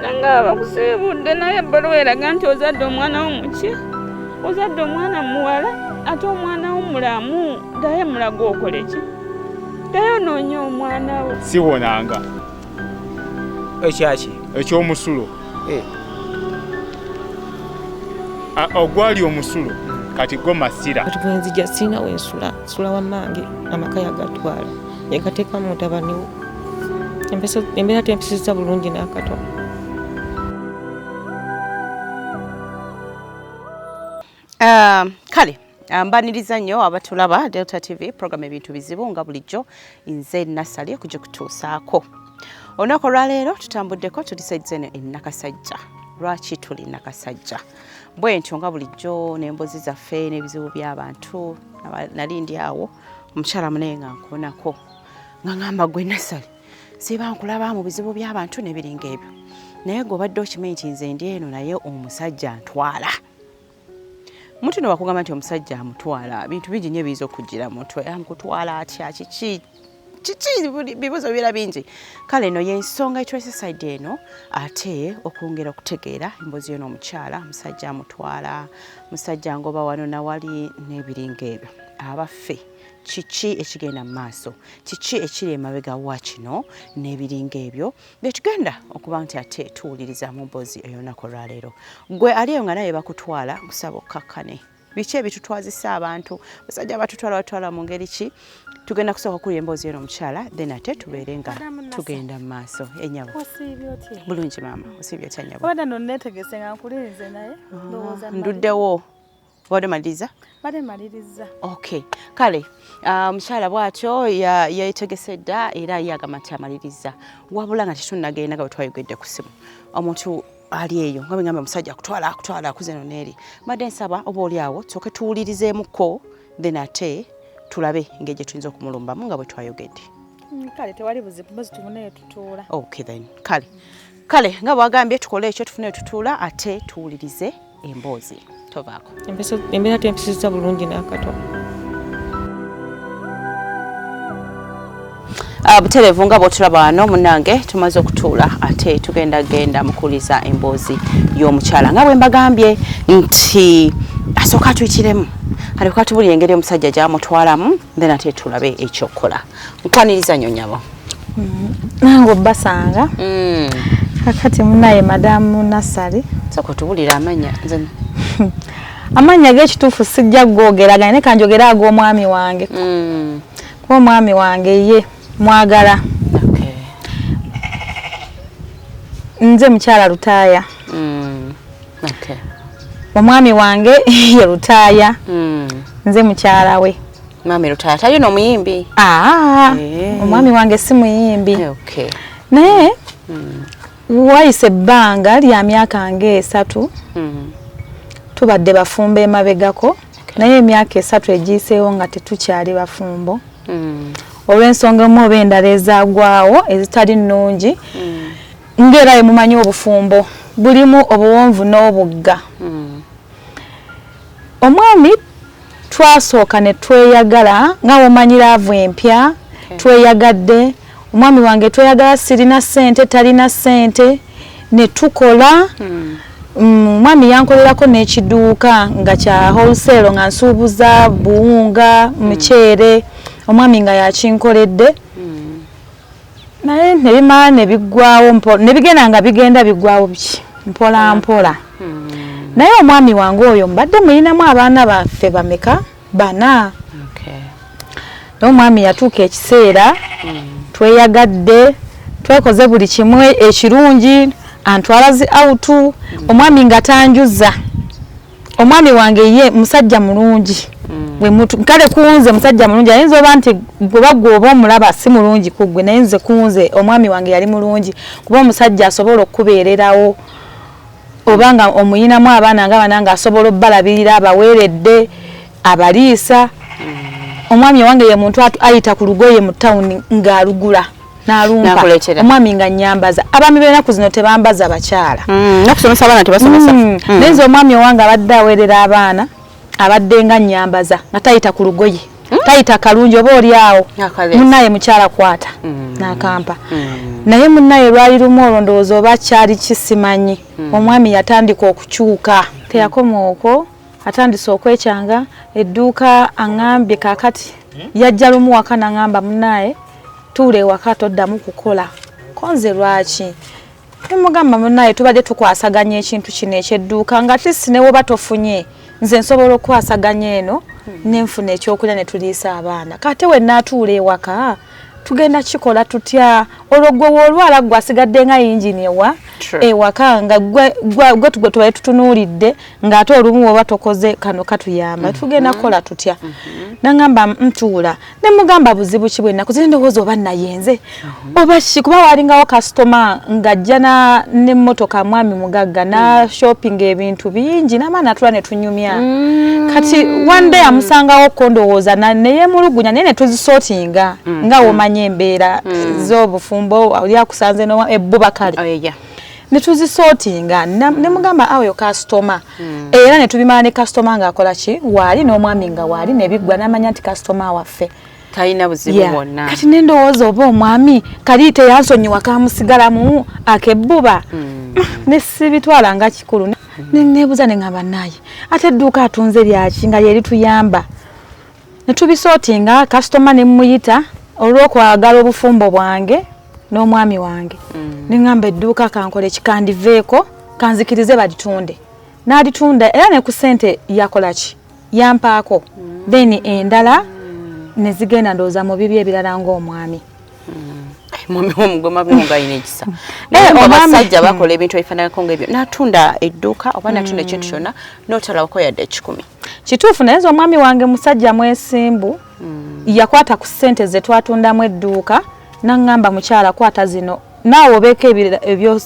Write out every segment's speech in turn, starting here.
nanga abakusiibudde naye ebbaluwa eraga nti ozadde omwana wo muki ozadde omwana muwala ate omwana wo mulamu daye mulaga okole ki daye onoonya omwana wo siwonanga ekyaki ekyomusulo eh. ogwali omusulo kati go masira kati bwenzija sirina wensula sula wamange amaka yagatwala yekateeka mu mutabani we embeera tempisizza bulungi n'akatono ah, kale ah, mbaniriza nnyo abatulaba delta tv program ebintu bizibu nga bulijjo nze nasali okujja kutuusaako olunaku olwaleero tutambuddeko tuli saidi eno enakasajja lwaki tuli nakasajja bwentyo nga bulijjo nembozi zaffe n'ebizibu by'abantu nali ndi awo omukyala munaye nga nkuonako nga ngamba gwe nasale siba nkulaba mu bizibu by'abantu nebiringa ebyo naye gwe obadde okimanyi nti nze ndi eno naye omusajja ntwala muntu no wakugamba nti omusajja amutwala bintu bingi nyo ebiyinza okugira muntu amkutwala atya kiki kiki bibuzo bibeera bingi kale eno yensonga etwesesaidi eno ate okwongera okutegeera embozi yo n'omukyala omusajja amutwala musajja ngoba wano nawali n'ebiringa ebyo abaffe kiki ekigenda mu maaso kiki ekiri emabega wa kino n'ebiringa ebyo byetugenda okuba nti ate tuwuliriza mu mboozi ey'olunaku olwaleero gwe ali eyo nga naye bakutwala nkusaba okkakkane biki ebitutwazisa abantu basajja batutwala batwala mu ngeri ki tugenda kusooka kuli emboozi eno omukyala then ate tubeere nga tugenda mu maaso enyabo bulungi maama osiibye otya nyabo ah, nduddewo wabadde maliriza bade maliriza okay kale ah, omukyala um, bwatyo yetegese ya dda era ye agamba nti amaliriza wabula nga tetunagenda nga bwetwayogedde ku simu omuntu ali eyo nga bwegamba omusajja akutwala akutwala akuze no neeri mbadde nsaba oba oli awo tusoke tuwulirizeemuko then ate tulabe engeri gye tuyinza okumulumbamu nga bwe twayogedde mm, kale tewali buzibu mbazi tubuneyo tutuula okay then kale kale nga bwagambye tukole ekyo tufuneyo tutuula ate tuwulirize emboozi tovaako embeera tempisizza bulungi n'akatono Ah, buterevu nga bwotulaba wano munange tumaze okutuula ate tugenda genda mukuliza emboozi y'omukyala nga bwe mbagambye nti asooka atuyikiremu alikuba tubulira engeri omusajja gyamutwalamu then ate tulabe ekyokukola nkwaniriza nyo nyabo mm. nange obbasanga mm. kakati munaye madamu nasali soko tubulira amanya amanya gekituufu sijja gogeraganya ne kanjogera ag'omwami wange mm. kuba omwami wange ye mwagala nze mukyala lutaaya omwami wange ye lutaaya nze mukyala we Mami Lutaya tayo no muyimbi. Ah. Eh. Omwami wange si muyimbi. Eh, okay. Naye mm. wayise banga lya myaka nge esatu. Mm. Tubadde bafumba emabegako. Okay. Naye emyaka esatu egiseewo nga tetukyali bafumbo. Mm. Olw'ensonga mu oba endala ezagwawo ezitali nnungi. Mm. Ngera ye mumanyi obufumbo. Bulimu obuwonvu n'obugga. Mm. omwami twasooka ne tweyagala nga womanyi laavu empya hmm. tweyagadde omwami wange tweyagala sirina ssente talina ssente ne tukola hmm. mm, omwami yankolerako n'ekiduuka nga kya wholesale nga nsuubuza buwunga hmm. muceere omwami nga yakinkoledde naye nebimala nebiggwawo nebigenda nga bigenda biggwawo biki mpola mpola hmm. naye omwami wange oyo mbadde muyinamu abaana baffe bameka bana naye omwami yatuuka ekiseera hmm. tweyagadde twekoze buli kimu ekirungi antwala zi awutu hmm. omwami nga tanjuza omwami wange ye musajja mulungi mm. kale kunze musajja mulungi ayinza oba nti gwebagwe oba omulaba si mulungi kugwe naye nze kunze omwami wange yali mulungi kuba omusajja asobola okukubeererawo oba nga omuyinamu abaana nga bana nga asobola obalabirira abaweeredde abaliisa mm. omwami owange ye muntu ayita ku lugoye mu tawuni ng'alugula nalumpa omwami nga nyambaza abami benaku zino tebambaza bakyala mm, nokusomesa abaana tebasomesa mm. mm. naye nze omwami owange abadde awerera abaana abadde nga nyambaza nga tayita ku lugoye mm. tayita kalungi oba oli awo munaye mukyala kwata mm. nakampa mm. naye munaye lwali lumu olwo ndowooza oba kyali kisimanyi mm. omwami yatandika okukyuka teyakoma okwo atandise okwekyanga edduuka aŋambye kakati hmm? yajja lumu waka naŋamba munaaye tuula ewaka toddamu kukola konze lwaki nemugamba munaaye tubadde tukwasaganya ekintu kino ekyedduuka nga tisi newoba tofunye nze nsobola okukwasaganya eno hmm. nenfuna ekyokulya netuliisa abaana kate wenaatuula ewaka tugenda kikola tutya olwo gwe wolwala gwe asigadde nga yingini ewa ewaka nga gwe tugwe tubaye tutunuulidde ng'ate olumu woba tokoze kano katuyamba mm-hmm. tugenda kukola tutya mm-hmm. nangamba ntuula ne mugamba buzibu ki bwe nakuze ndowooza oba nayenze mm-hmm. oba ki kuba walingawo kasitoma ng'ajja n'emmotoka mwami mugagga na mm. shopping ebintu bingi n'amaana atula ne tunyumya mm. kati one day amusangawo kondowooza neyemulugunya naye netuzisotinga mm. nga womanya embeera mm. zobufumbo oli akusanze no ebbuba kale oh, yeah. netuzisotinga nemugamba mm. aweyo kasitoma mm. era netubimala ne kasitoma ngaakola ki waali n'omwami nga waali nebiggwa namanya nti kasitoma waffe talina buzibu yeah. bwonna kati nendowooza oba omwami kali teyansonyiwa kamusigalamu akebbuba mm. nesibitwala nga kikulu mm. nebuuza nengamba naye ate edduuka atunze lyaki nga lyerituyamba netubisooti nga kasitoma nemuyita olwokwagala obufumbo bwange n'omwami wange mm. nengamba edduuka kankole kikandiveeko kanzikirize balitunde n'alitunda era ne ku ssente yakola ki yampaako then endala nezigenda ndowooza mu bibi ebirala ng'omwami omwami womugoma bwongalina ekisa naye eh, abasajja bakola ebintu ebifananako ngaebyo natunda edduuka oba natunda ekintu mm. kyonna notalabako yadde ekikumi kituufu naye nze omwami wange musajja mwesimbu mm. yakwata ku sente zetwatundamu edduuka naŋŋamba mukyala kwata zino naawe obeeko ebyo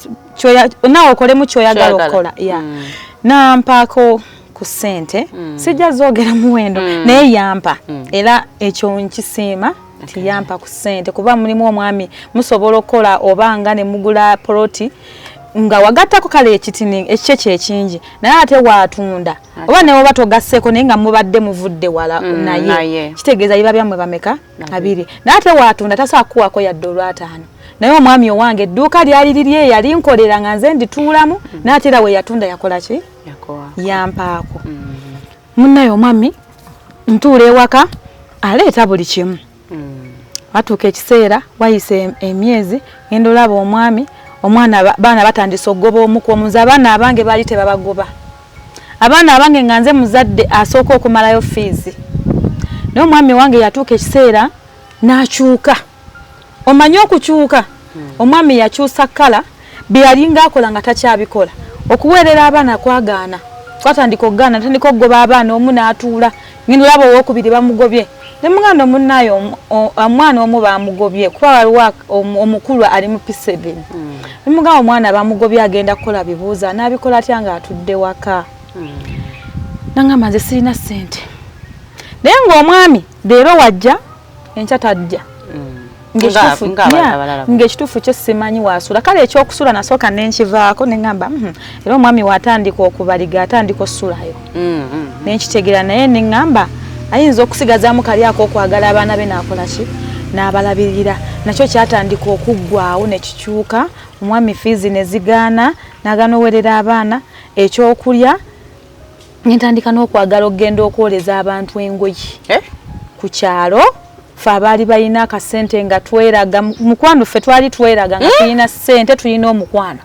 naawe okolemu kyoyagala okukola ya mm. nampaako ku ssente mm. sijja zoogera muwendo mm. naye yampa mm. era ekyo nkisiima nti yampa ku ssente kuba mulimu omwami musobola okukola oba nga ne mugula poloti nga wagattako kale ekitini ekikye kyekingi naye ate waatunda oba ne woba togasseeko naye nga mubadde muvudde wala mm, naye kitegeeza biba byammwe bameka abiri naye ate waatunda tasobola kukuwako yadde olwataano naye omwami owange edduuka lyali liri eyali nkolera nga nze ndituulamu mm. naye ate era we yatunda yakola ki yampaako mm. munnaye omwami ntuula ewaka aleeta buli kimu mm. watuuka ekiseera wayisa emyezi ngenda olaba omwami omwana baana batandise okugoba omuku omunze abaana abange baali tebabagoba abaana abange nga nze muzadde asooka okumalayo fiizi naye omwami wange yatuuka ekiseera n'akyuka omanyi okukyuka omwami yakyusa kkala byeyalinga akola nga takyabikola okuweerera abaana kwagaana twatandika okugaana natandika okugoba abaana omu n'atuula ngenda olaba owokubiri bamugobye ne muganda omunaayo omwana omu bamugobye kuba waliwo omukulu ali mu piseveni hmm. ne mugamba omwana bamugobye agenda kukola bibuuza n'abikola atya nga atudde waka hmm. nangamba nze sirina ssente naye ng'omwami leero wajja enkya tajja ng'ekituufu kyo simanyi waasula kale ekyokusula nasooka nenkivaako neŋamba hmm, era omwami waatandika okubaliga atandika okusulayo mm, mm, mm. nenkitegera naye neŋamba ayinza okusigazaamu kali ak'okwagala abaana be naakola ki n'abalabirira nakyo kyatandika okuggwawo ne kikyuka omwami fiizi ne zigaana n'agaana owerera abaana ekyokulya nentandika n'okwagala okugenda okwoleza abantu engoye eh? ku kyalo fe abaali balina akasente nga tweraga mukwano ffe twali tweraga nga hmm? tulina sente tulina omukwano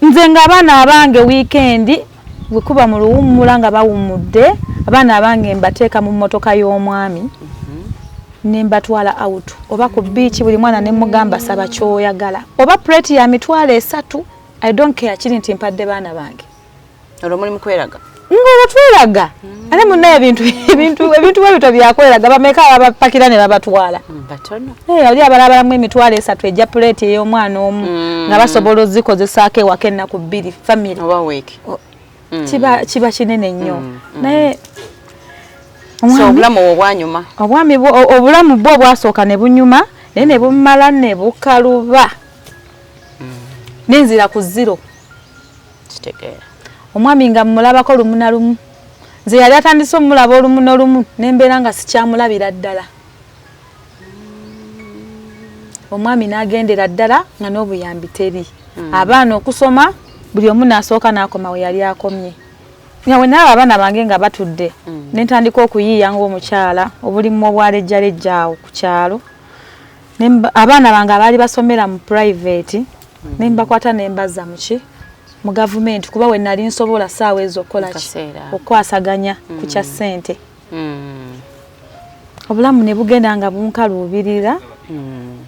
nze ng'abaana abange wiikendi Bwe kuba mu luwummula nga bawummudde, abaana abange mbateeka mu mmotoka y'omwami mhm. ne mbatwala awutu oba ku bbiici buli mwana ne mugamba saba ky'oyagala oba puleeti ya mitwalo esatu i don't care kiri nti mpadde baana bange olwo muli mu kweraga ng'olwo tweraga ate munna ebintu ebintu ebintu webito byakweraga bameka ababapakira ne babatwala mm, eh, oli abalabalamu emitwalo esatu egya puleeti ey'omwana omu mm. nga basobola ozikozesaako ewaka ennaku bbiri famiry oh, mm. kiba kinene nnyo naye obulamu obwanyuma obwami obulamu bwo obwasooka ne bunyuma naye ne bumala ne bukaluba nenzira ku ziro kitegeera omwami nga mmulabako lumu na lumu nze yali atandise omulaba olumu nolumu nembeera nga sikyamulabira ddala omwami nagendera ddala nga n'obuyambi teri hmm. abaana okusoma buli omu nasooka nakoma we yali akomye nga wenaaba abaana bange nga batudde hmm. nentandika okuyiiya ngaomukyala obulimu obwalejjalejja awo ku kyalo abaana bange abaali basomera mu private hmm. ne mbakwata ne mbazza muki mu gavumenti kuba we nali nsobola saawa ezo okukola okukwasaganya mm. ku kya ssente mm. obulamu ne bugenda nga bunkaluubirira mm.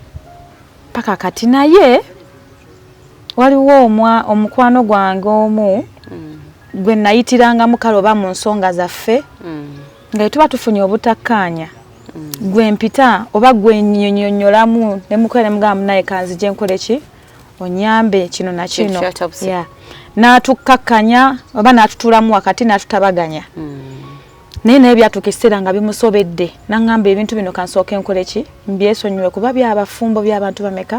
paka kati naye waliwo omwa omukwano gwange omu mm. gwe nayitirangamu kale oba mu nsonga zaffe mm. nga tuba tufunye obutakkaanya mm. gwe mpita oba gwe nyonyonyolamu ne mukwere mugamu naye kanzi je nkole ki onyambe kino na kino yeah natukkakanya oba natutulamu wakati natutabaganya mm. naye naye byatuka ekiseera nga bimusobedde nangamba ebintu bino kansooke nkole ki mbyesonyiwe kuba byabafumbo byabantu bameka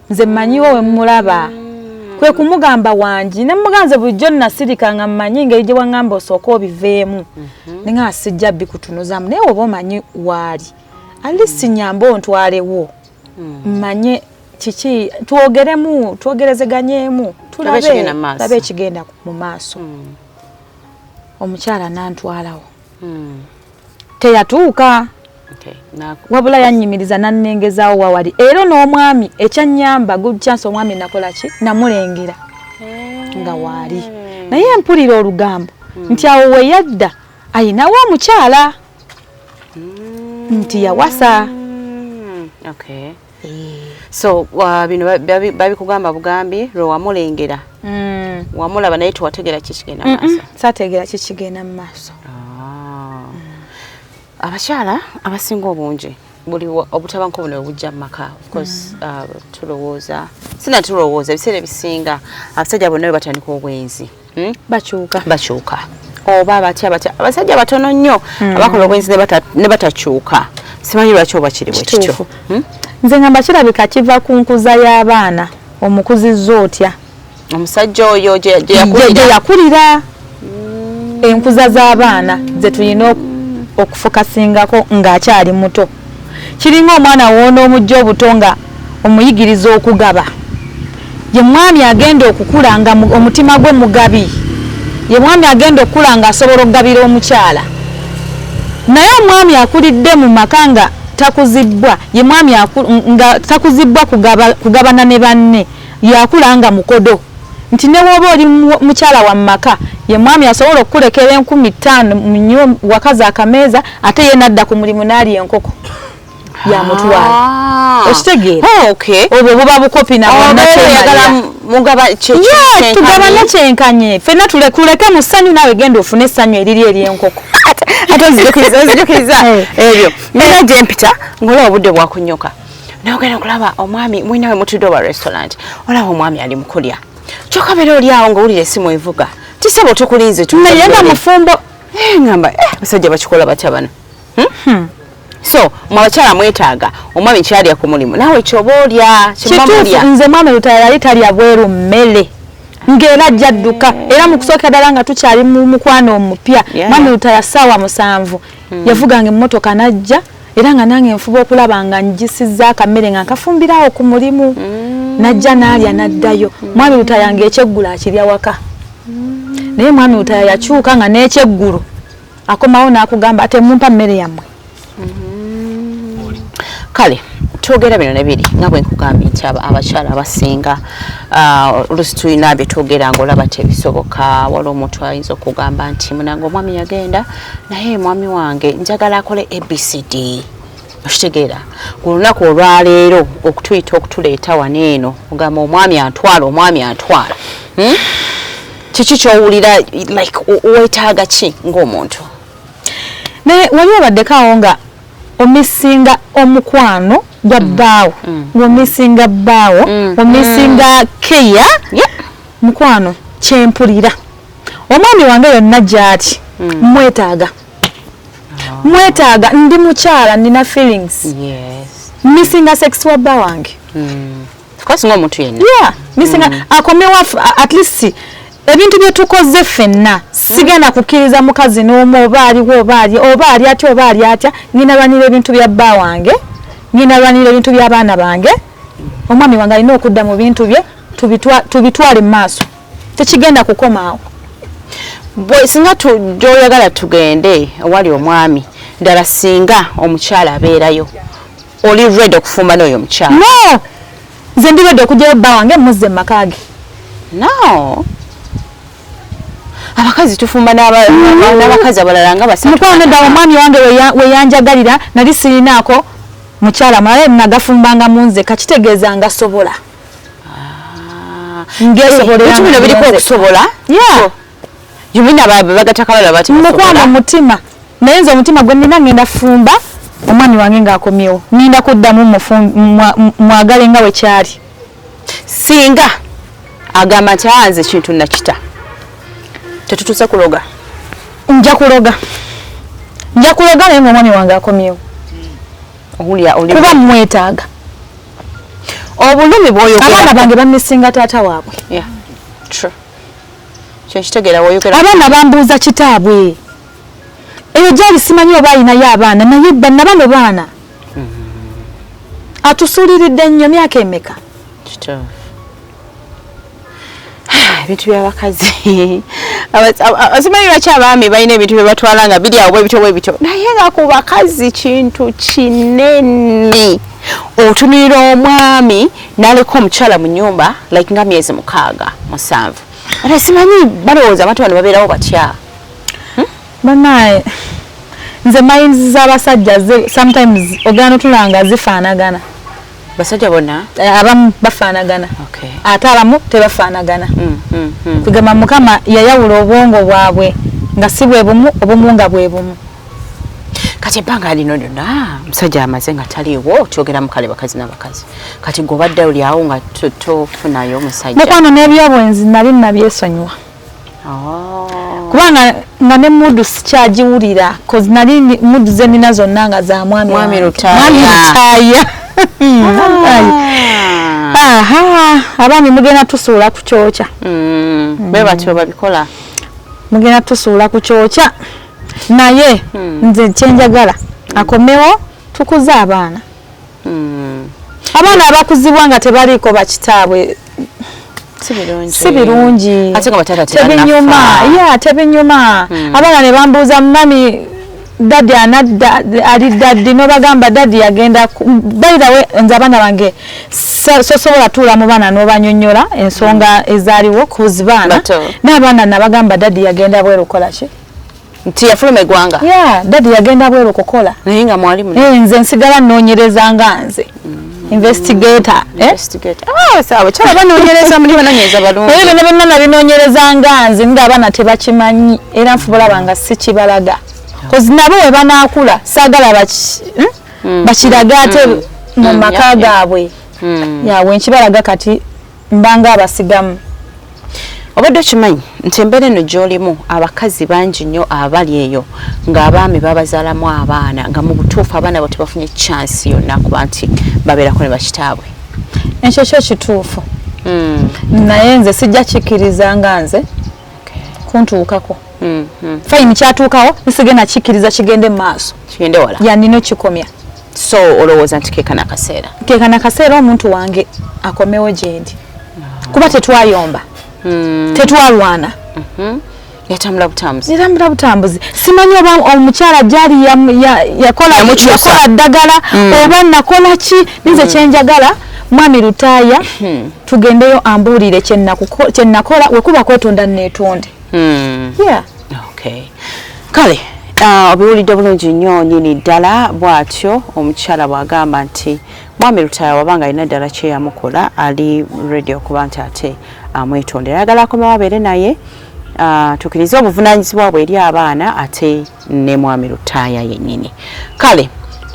nze mmanyiwo we mmulaba mm. kwe kumugamba wangi ne muganze bulijjo nasirika nga mmanyi engeri gye waŋŋamba osooka obiveemu mhm. ne nga sijja bikutunuzaamu naye oba omanyi waali ali sinyamba ontwalewo mm. mmanye kiki twogeremu twogerezeganyeemu tulabe ekigenda mu maaso mm. omukyala nantwalawo hmm. teyatuuka okay. wabula yanyimiriza nannengezaawo wawali era n'omwami ekyanyamba good chance omwami nakola ki namulengera eh. nga waali naye mpulira olugambo hmm. nti awo weyadda ayinawo omukyala hmm. nti yawasa hmm. okay. so uh, bino babikugamba bugambi lwe wamulengera mm. wamulaba naye tewategera kikigenda maaso sategera kikigenda mu maaso ah. abakyala abasinga obungi buli obutabanko buno bujja mu maka ofcourse mm. uh, tulowooza sina tulowooza ebiseera ebisinga abasajja bonna we batandika obwenzi hmm? bakyuka bakyuka oba batya batya abasajja batono nnyo hmm. abakola obwenzi ne batakyuka simanyi lwaki oba kiri bwekityo hmm? nze ngamba kirabika kiva ku nkuza y'abaana omukuzizza otya omusajja oyo gyeyakulira enkuza z'abaana zetulina okufukasingako ng'akyali muto Kiringa omwana w'onoomujja obuto nga omuyigiriza okugaba. Ye mwami agenda okukula nga omutima gwe mugabi. Ye mwami agenda okukula nga asobola okugabira omukyala. Naye omwami akulidde mu maka nga takuzibbwa, ye mwami nga takuzibbwa kugabana ne banne. Yakula nga mukodo nti ne bwoba oli mukyala wa maka ye mwami asobola okukulekera enkumi ttaano mu nyo wakazi akameeza ate ye nadda ku mulimu n'alya enkoko yamutwala ah. okitegeera oh, obwo buba bukopi nabanatugabana oh, kyenkanye fenna tulekuleke mu ssanyu naawe genda ofune essanyu eriri ery'enkoko ate nzijukiriza nzijukiriza eh. ebyo nina gyempita ngaola obudde bwakunyoka naye ogenda kulaba omwami mwinawe mutudde oba restaurant olaba omwami ali mukulya kyoka beera oli awo ngaowulira esimu evuga tisaba otukulinze naye nga mufumbo eh, ngamba eh, abasajja bakikola batya bano hmm? Hmm. so mwabakyala mwetaaga omwami kyalya ku mulimu naawe kyoba olya kituufu nze mwami lutaya yali talya bweru mmere ng'era ajja dduka eh. era mu kusookera ddala nga tukyali mu mukwano omupya mwami lutaya ssaawa musanvu hmm. yavuganga emmotoka n'ajja era nga nange nfuba okulaba nga njisizza akamere nga nkafumbirawo ku mulimu mm. najja naalya naddayo mm. mwami lutaya nga ekyeggulu akirya waka mm. naye mwami lutaya yakyuka nga n'ekyeggulu akomawo n'akugamba ate mumpa mmere yammwe kale twogera bino nebiri nga bwe nkugambye nti abakyala abasinga ah, olusi tulina bye twogera ngaolaba tebisoboka wali omuntu ayinza okugamba nti munange omwami yagenda naye mwami wange njagala akole abcd okitegeera ku lunaku olwaleero okutuyita okutuleeta wano eno ogamba omwami antwala omwami antwala hmm? kiki kyowulira like wetaaga ki ngaomuntu naye wali obaddeko awo nga omisinga omukwano gwa mm. bbaawo mm. ngaomisinga bbaawo mm. omisinga keya mukwano kyempulira omwami wange yonna gy'ati hmm. mwetaaga ah. mwetaaga ndi mukyala nina feelings missinga sex wa bba wange hmm. missinga hmm. akomewo at least ebintu bye tukoze ffenna sigenda kukkiriza mukazi n'omu oba aliwo oba ali oba ali atya oba ali atya ngenda lwanira ebintu bya bba wange ngenda lwanira ebintu by'abaana bange omwami wange alina okudda mu bintu bye tubitwale mu maaso tekigenda kukomaawo bwe singa gyoyagala tugende owali omwami ddala singa omukyala abeerayo oli red okufumba n'oyo omukyala no nze ndi red okugyayo bba wange muzze mu maka ge no abakazi tufumba n'abakazi abalala nga basamukwano ddala omwami wange weyanjagalira nali sirinaako mukyala mulala nagafumbanga munzeka kitegeeza nga sobola ngesobolebino biriko okusobola yumina bagatakabala bati mukwano mutima naye nze omutima gwe nina ngenda fumba omwami wange ngaakomyewo ninda kuddamu mwagale nga wekyali singa agamba nti anze ekintu nakita tetutuse kuloga nja kuloga nja kuloga naye ngaomwami wange akomyewo kuba mwetaaga obulumi bwoyogera abaana bange bamisinga taata waabwe yeah. true kyekitegera woyogera abaana bambuuza kitaabwe eyo gyali simanyi oba alinayo abaana naye banna bano baana mm-hmm. atusuuliridde nnyo myaka emeka kitaabwe ebintu byabakazi asimanyi lwaki abaami balina ebintu byebatwala nga biri awo bwebityo bwebityo naye nga ku bakazi kintu kinene otunulira omwami naleka omukyala mu nyumba like nga myezi mukaaga musanvu ate simanyi balowooza abantu bano babeerawo batya hmm? banaye nze mayinzi z'abasajja sometimes ogana otulanga zifaanagana basajja bona eh, abamu bafanagana okay. ate abamu tebafanagana mm, mm, mm. kugamba mukama yayawula obwongo bwabwe nga si bwe bumu obumu nga bwe bumu kati ebbanga lino lyonna musajja amaze nga taliiwo kyogera mukale bakazi nabakazi kati gobadde olyawo nga tofunayo omusajja mukwano n'ebyobwenzi nali nabyesonyiwa Oh. kubanga nga ne mudu sikyagiwulira bcause nali mudu zenina zonna nga za mwami mwami lutaaya abaami mugenda tusuula ku kyokya mm. mm. be batyo babikola mugenda tusuula ku kyokya naye mm. nze kyenjagala akomewo tukuze abaana hmm. abaana abakuzibwa nga tebaliiko bakitaabwe si birungi tebinyuma ya tebinyuma hmm. abaana ne bambuuza mumami dadi anadda ali dadi nobagamba dadi yagenda bairawe nze abaana bange sosobola tuula mu baana nobanyonyola ensonga hmm. ezaliwo kuzibaana n'abaana nabagamba dadi yagenda bwerukolaki nti yafuluma egwanga yeah dadi yagenda bwero kokola naye nga mwali mu eh nze nsigala nonyereza nga nze investigator mm. eh? investigator ah sawa chala bana onyereza muli bana nyeza balungu naye bana bana nali nonyereza nga nze nga bana tebakimanyi era nfubula banga sikibalaga koz mm. nabo we bana akula sagala baki hmm? mm. bakiraga ate mm. mu mm. maka gabwe mm. ya wenkibalaga kati mbanga abasigamu obadde okimanyi nti embeera eno gyolimu abakazi bangi nnyo abali eyo ng'abaami babazaalamu abaana nga mu butuufu abaana abo tebafunye chansi yonna kuba nti babeerako ne bakitaabwe ekyo kyo kituufu hmm. naye nze sijja kikkiriza nga nze kuntuukako mm, mm. fayini kyatuukawo nsigenda kikkiriza kigende mu maaso kigende wala yanina okikomya so olowooza nti keekana kaseera keekana kaseera omuntu wange akomewo gyendi ah. kuba tetwayomba mm. tetwalwana mm -hmm. yatambula butambuzi yatambula butambuzi simanyi oba omukyala gyali yakola ddagala mm. oba nakola ki ninze mm. kyenjagala mwami lutaaya hmm. tugendeyo ambuulire kye nakola we kuba kwetonda neetonde hmm. kale ah, obiwulidde bulungi nnyo nyini ddala bw'atyo omukyala bw'agamba nti mwami lutaya wabanga alina ddala kyeyamukola ali redi okuba nti ate amwetondera ayagala akomawo abeere naye ah, tukirize obuvunanyizibwa bwe eri abaana ate ne mwami lutaaya yennyini kale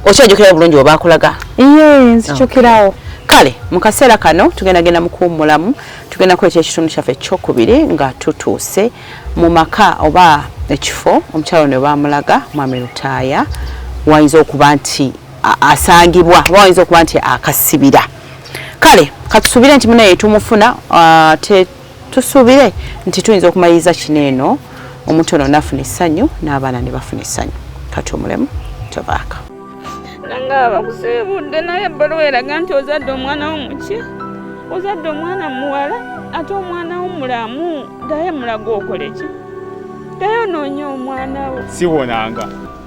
okyajukirawo bulungi webakulaga ye nzijukirawo kale mu kaseera kano tugenda genda mukuwummulamu tugenda kuleeta ekitundu kyaffe ekyokubiri nga tutuuse mu maka oba ekifo omukyalo ne bamulaga mwami lutaaya wayinza okuba nti asangibwa oba wayinza okuba nti akasibira kale katusuubire nti munaye tumufuna uh, tusuubire nti tuyinza okumaliriza kino eno omuntu ono nafuna essanyu n'abaana ne bafuna essanyu kati omulemu tobaaka nanga abakusiibudde naye ebbaluwa eraga nti ozadde omwana wo muki ozadde omwana muwala ate omwana wo mulamu daye mulaga okoleki daye onoonya omwana wo siwonanga